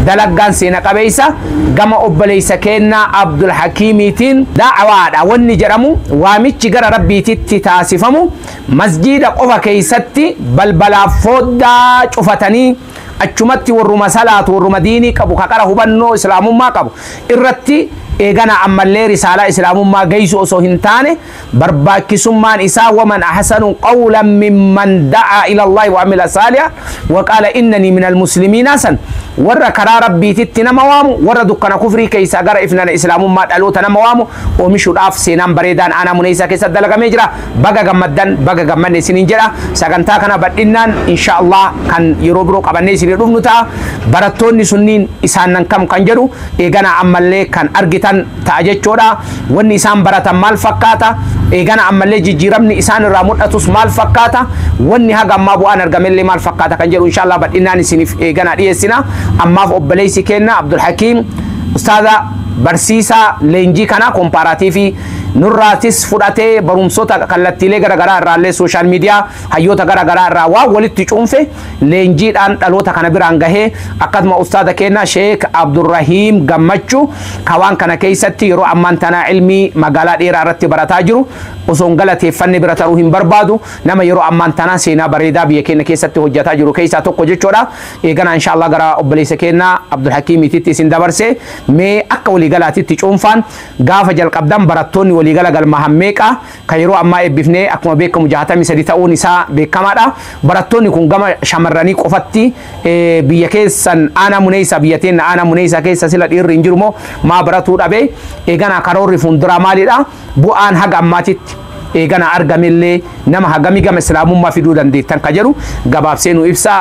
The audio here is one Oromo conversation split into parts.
Dalaggaan seena qabeessa gama obboleessa keennaa Abdul Hakiimiitiin da'awaadha wanni jedhamu waamichi gara Rabbiititti taasifamu masjiida qofa keessatti balbalaaf fooddaa cufatanii achumatti warruma salaatu warruma diinii qabu ka qara hubannoo islaamummaa qabu irratti eeganaa ammallee risaalaa islaamummaa geessu osoo hin taane barbaachisummaan isaa waman ahsanu qawlan mimman da'aa ila Allahi wa amila saaliha wa qaala innanii minal muslimiinaa san warra karaa rabbiititti nama waamu warra dukkana kufrii keessaa gara ifnana islaamummaa dhaloota nama waamu oomishuudhaaf seenaan bareedaan aanaa muneessaa keessatti dalagamee jira baga gammaddan baga gammanne isiniin jedha sagantaa kana badhinnaan insha Allah kan yeroo biroo qabannee isinii dhufnu ta'a barattoonni sunniin isaan nan kam kan jedhu eeganaa ammallee kan argitan ta'a jechuudha. Wanni isaan baratan maal fakkaata? Eegana ammallee jijjiiramni isaan irraa mul'atus maal fakkaata? Wanni haga ammaa bu'aan argamellee maal fakkaata kan jedhu inshaallah bal'inaan isiniif eeganaa dhiyeessina. Ammaaf obboleessi keenna Abdul Hakiim ustaaza barsiisaa leenjii kanaa kompaaraatiifii nurraatis fudhatee barumsoota kallattiilee gara garaa irraallee sooshaal miidiyaa hayyoota gara garaa irraa waan walitti cuunfe leenjiidhaan dhaloota kana biraan gahee akkasuma ustaaza keenya Sheek Abdurrahiim Gammachu ka waan kana keessatti yeroo ammaan tanaa ilmii magaalaa dheeraa irratti barataa jiru osoo hin galateeffanne bira taruu hin barbaadu nama yeroo ammaan tanaa seenaa bareedaa biyya keenya keessatti hojjetaa jiru keessaa tokko jechuudha eeganaa inshaallah gara obboleessa keenya Abdulhakiimititti isin dabarse mee akka waliigalaatitti cuunfaan gaafa jalqabdan barattoonni waliigala galmahan meeqa kan yeroo ammaa eebbifne akkuma beekamu 63 ta'uun isaa beekamaadha. Barattoonni kun gama shamarranii qofatti biyya keessan aanaa muneessaa biyya teenna aanaa muneessaa keessa sila dhiirri hin jiru moo maa baratuu dhabe eeganaa karoorri fuulduraa maalidha bu'aan haga ammaatitti eeganaa argamellee nama hagamii gama islaamummaa fiduu dandeettan ka jedhu gabaabsee nu ibsaa.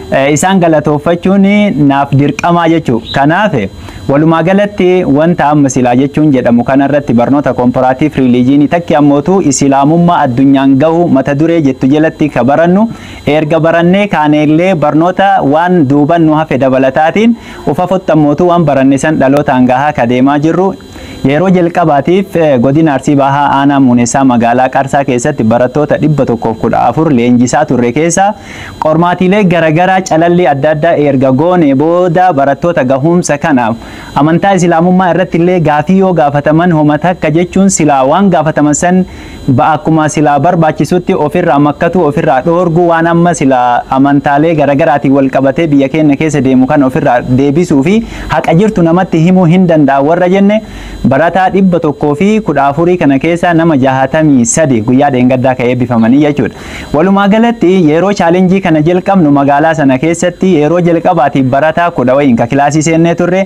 Isaan galatooffachuun naaf dirqamaa jechuu. Kanaaf, walumaa galatti wanta amma silaa jechuun jedhamu kana irratti barnoota Komparaatiif Riiliijiinii takki ammootu Isilaamummaa addunyaan gahu mata duree jettu jelatti ka barannu eerga barannee kaanee illee barnoota waan duuban nu hafe dabalataatiin ufafott ammootu waan baranne san dhalootaan gahaa ka deemaa jirru Yeroo jalqabaatiif Godina Arsii Bahaa Aanaa Muunessaa Magaalaa Qarsaa keessatti barattoota 114 leenjisaa turre keessaa qormaatiilee garagaraa calallii adda addaa eerga goonee booda barattoota gahuumsa kanaaf amantaa Islaamummaa irrattillee gaafii yoo gaafataman homa takka jechuun silaa waan gaafataman san ba akkuma silaa barbaachisutti of irraa makkatuu, of irraa dhoorguu, waan amma silaa amantaalee garagaraatiin wal qabatee biyya keenna keessa deemu kana of irraa deebisuu fi haqa jirtu namatti himuu hin danda'an warra jenne barataa 114 kana keessaa nama 63 guyyaa dheengaddaa ka eebbifamanii jechuu dha. Walumaa galatti yeroo chaalenjii kana jalqabnu magaalaa sana keessatti yeroo jalqabaatiif barataa kudha wayiin ka kilaasii seennee turre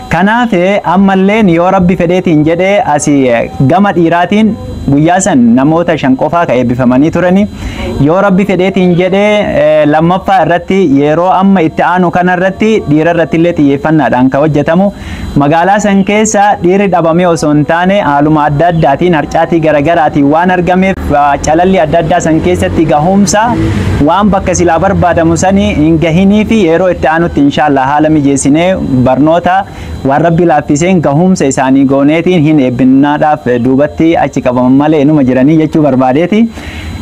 Kanaaf ammalleen yoo Rabbi fedheetiin jedhe asi gama dhiiraatiin guyyaa san namoota shan qofaa ka eebbifamanii turani. Yoo Rabbi fedheetiin jedhe lammaffaa irratti yeroo amma itti aanu kana irratti dhiira irratti illee xiyyeeffannaadhaan ka hojjetamu magaalaa san keessa dhiirri dhabamee osoo hin taane haaluma adda addaatiin harcaatii garagaraatiin waan argameef calalli adda addaa san keessatti gahumsa waan bakka silaa barbaadamu sanii hin gahinii fi yeroo itti aanutti inshaallah haala mijeessinee Barnoota waan Rabbi laaffiseen gahuumsa isaanii gooneetiin hin eebbinnaadhaaf duubatti achi qabaman malee inuma jiranii jechuu barbaadeeti.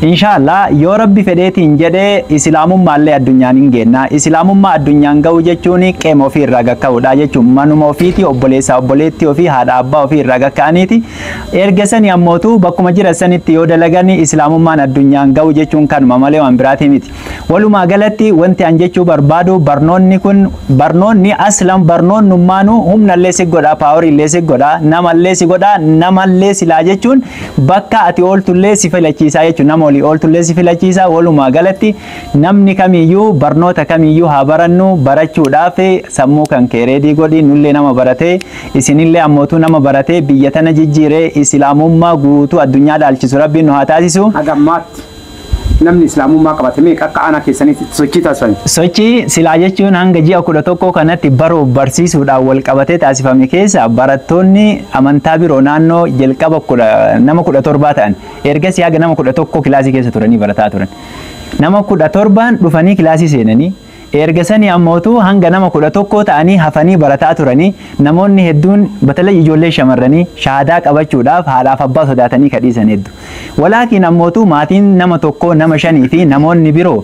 Inshaa Allah yoo Rabbi fedheetiin jedhe Isilaamummaallee addunyaan hin geenna. Isilaamummaa addunyaan gahuu jechuun qeema ofii irraa gad ka'uudha jechuun manuma ofiitii obboleessaa obboleettii ofii haadha abbaa ofii irraa gad ka'aniiti. Erga sanii ammootu bakkuma jiran sanitti yoo dalagan Isilaamummaan addunyaan gahuu jechuun kanuma malee waan biraatii miti. Walumaa galatti wanti an jechuu barbaadu barnoonni kun barnoonni aslan barnoonnummaanuu humnallee si godha paaworiillee si godha namallee si godha namallee silaa jechuun bakka ati ooltullee si filachiisaa jechuun nama olii ooltullee si filachiisa walumaa galatti namni kamiyyuu barnoota kamiyyuu haa barannu barachuudhaaf sammuu kan kee reedii godhi nullee nama baratee isinillee ammootuu nama baratee biyya tana jijjiiree islaamummaa guutuu addunyaa dhaalchisu rabbiin nu haa taasisu. Hagammaatti. Namni Islaamummaa qabate meeqa akka aanaa keessaniitti sochii taasisan? Sochii silaa jechuun hanga ji'a 11 kanatti baruuf barsiisuudhaan wal qabatee taasifame keessaa barattoonni amantaa biroo naannoo jalqaba nama 17 ta'an ergasii haga nama 11 kilaasii keessa turanii barataa turan. Nama 17n dhufanii kilaasii seenanii Eerga sanii ammootuu hanga nama 11 ta'anii hafanii barataa turanii namoonni hedduun batalay ijoolleen shamarranii shahaadaa qabachuudhaaf haadhaaf abbaa sodaatanii ka dhiisan heddu. Walaakiin ammootuu maatiin nama tokkoo nama shanii fi namoonni biroo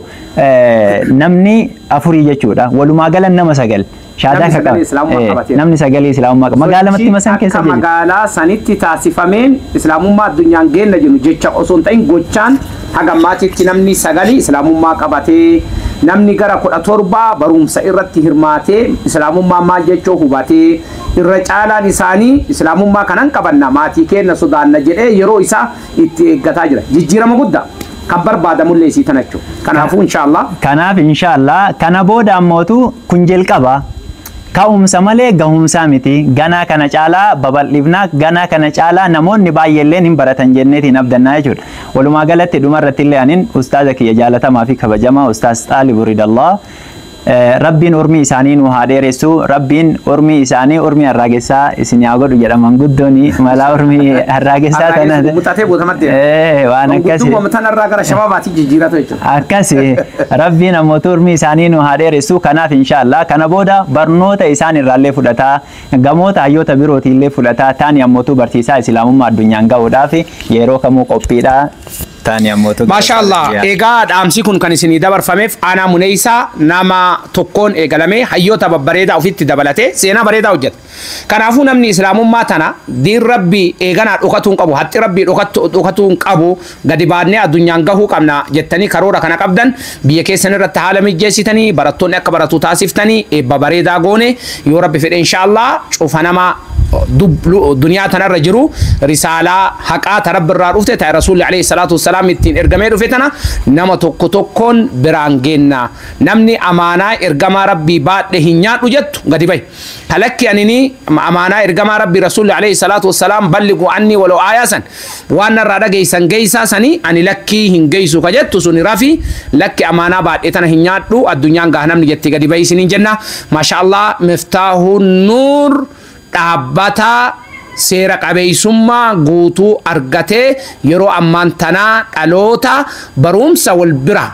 namni afurii jechuudha. Walumaa galan nama sagal. Shahaadaa Namni ka sagalee qabe. Islaamummaa Ee, qabateera. Namni sagalee Islaamummaa qabe. Magaalaa Sochii Mattima san keessa akka jiru. magaalaa sanitti taasifameen Islaamummaa addunyaan geenna jennu jecha osoo hin ta'in gochaan haga ammaatitti namni sagali Islaamummaa qabatee namni gara kudha torbaa barumsa irratti hirmaatee Islaamummaa maal jechuu hubatee irra caalaan isaanii Islaamummaa kanan qabanna maatii keenna sodaanna jedhee yeroo isaa itti eeggataa jira. Jijjiirama guddaa kan barbaadamullee isii tana jechuudha. Kanaafuu inshaallah Kanaaf inshaallah kana booda ammootu kun jalqaba ka'umsa malee gahumsaa miti ganaa kana caalaa babal'ifnaa ganaa kana caalaa namoonni baay'eelleen hin baratan jenneetiin abdannaa jechuudha. Walumaa galatti dhumarrattillee anin ustaaza kiyya jaalatamaa fi kabajamaa ustaaz Xaalibu Ridallah Rabbiin urmii isaanii nuu haa dheeressu Rabbiin urmii isaanii urmii harraagessaa isinii haa godhu jedha manguddoni malaa urmii harraagessaa Harraagessi tana gugguxatee bootamat deema. Ee, waan akkasi Manguddummam tanarraa gara shababaatti jijjiiratu jechuudha. akkasi rabbiin ammootu urmii isaanii nu haa dheeressu kanaaf inshaallah kana booda barnoota isaan irraallee fudhataa gamoota hayyoota birootiillee fudhataa taani ammootu barsiisaa islaamummaa addunyaan ga'uudhaaf yeroo kamuu qophiidha Taani ammoo tokko Maashaa Allaah Saudi Arabia. egaa dhaamsi kun kan isinii dabarfameef aanaa muneeysaa nama tokkoon eegalamee hayyoota babbareedaa ofitti dabalatee seenaa bareedaa hojjete. Kanaafuu namni islaamummaa tana diin rabbii eeganaa dhokatuu hin qabu haxxi rabbii dhokatu- dhokatuu hin qabu gadi baadnee addunyaan gahuu qabna jettanii karoora kana qabdan Biyya keessan irratti haala mijjeessitanii barattoonni akka baratu taasiftanii eebba bareedaa goone yoo rabbi fedhe inshaallah cufa nama dub- lu- duniyaa tanarra jiru risaalaa haqaa ta rabbi irraa dhufte ta rasuulli alayhi salaatu wassalaam ittiin ergamee dhufe tana nama tokko tokkoon biraan geenna namni amaanaa ergamaa rabbii baadhe hin nyaadhu jettu gadi bahi Ta lakki anini amaanaa ergamaa Rabbii Rasuulli alayhi salaatu wassalaam balligu anni walaw aayaa san waan narraa dhageessan geessaa sani ani lakkii hin geessu ka jettu suni rafi lakki amaanaa baadhe tana hin nyaadhu addunyaan gahnamni jetti gadi bahi isiniin jenna maasha Allah miftaahuun nuur dhaabbata seera qabeessummaa guutuu argatee yeroo ammaan tanaa dhaloota barumsa wal bira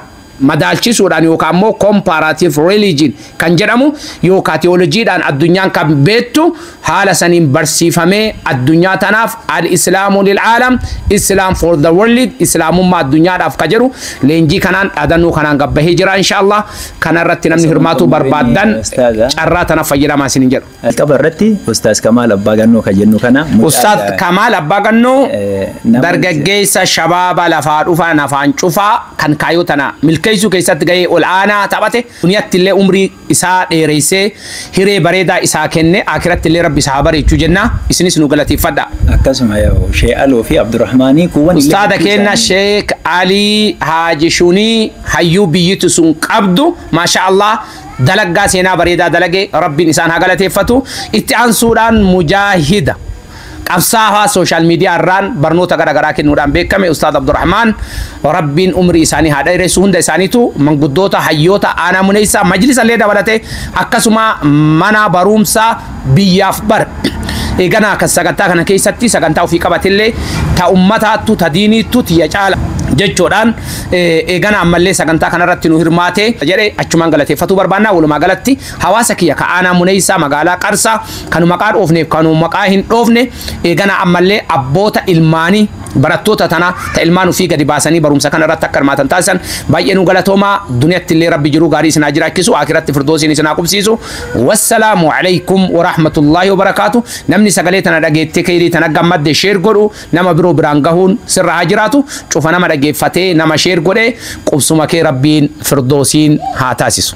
madaalchisuudhaan yookaan immoo comparative religion kan jedhamu yookaan tiyoolojiidhaan addunyaan kan beektu haala saniin barsiifamee addunyaa tanaaf al-islaamu lil'aalam islaam for the world islaamummaa addunyaadhaaf ka jedhu leenjii kanaan dhaadannoo kanaan gabbahee jira inshaallah kana irratti namni Isa hirmaatuu wantoonni beenii barbaaddan ustaaza carraa tana fayyadamaa isinin jedhu. Jalqaba irratti Ustaaz Kamaal Abbaa Gannoo kan jennu kana mucaa Ustaaz ija- Kamaal Abbaa Gannoo Eh, nama- dargaggeessa shabaaba lafaa dhufaan afaan cufaa kan kaayoo tana milkeessuu keessatti gahee ol aanaa taphate duniyatti illee umrii isaa dheereessee hiree bareedaa isaa kenne akiratti illee rabbi isaa haa bareechuu jenna isinis nu galateeffadha. akkasuma yoo Shee Aloo fi Abdurrahmaanii kuuwwan illee Ustaada gidduu keenya isaanii- Sheek Alii Haaji Shunii hayyuu biyyitu sun qabdu maashaa Allah dalaggaa seenaa bareedaa dalage rabbiin isaan haa galateeffatu itti aansuudhaan mujaahida qabsaawaa sooshaal miidiyaa irraan barnoota gara garaa kennuudhaan beekame ustaad abdurrahmaan rabbiin umrii isaanii haa dheeressu hunda isaaniitu manguddoota hayyoota aanaa muneessaa majlisa illee dabalate akkasuma mana barumsaa biyyaaf bar eganaa kan sagantaa kana keessatti sagantaa ofii qabatillee ta ummataattu ta diiniittu tiyya caala jechuudhaan eegana ammallee sagantaa kanarratti nu hirmaate jedhe achumaan galateeffatuu barbaannaa walumaa galatti hawaasa kiyya ka aanaa muneessaa magaalaa qarsaa kanu maqaa dhoofneef kanu maqaa hin dhoofne eegana ammallee abboota ilmaanii barattoota tana ta ilmaan ofii gadi baasanii barumsa kana irratti akka hirmaatan taasisan baay'ee nu galatoomaa duniyatti illee rabbi jiruu gaarii isinaa jiraachisu akiratti firdoosiin isinaa qubsiisu Wassalaamu Aleykum Warahmatullaahi Wabarakaatu Namni sagalee tana dhageettee keyrii tana gammadde share godhu nama biroo biraan gahuun sirra haa jiraatu cufa nama dhageeffatee nama share godhe qubsuma kee rabbiin firdoosiin haa taasisu.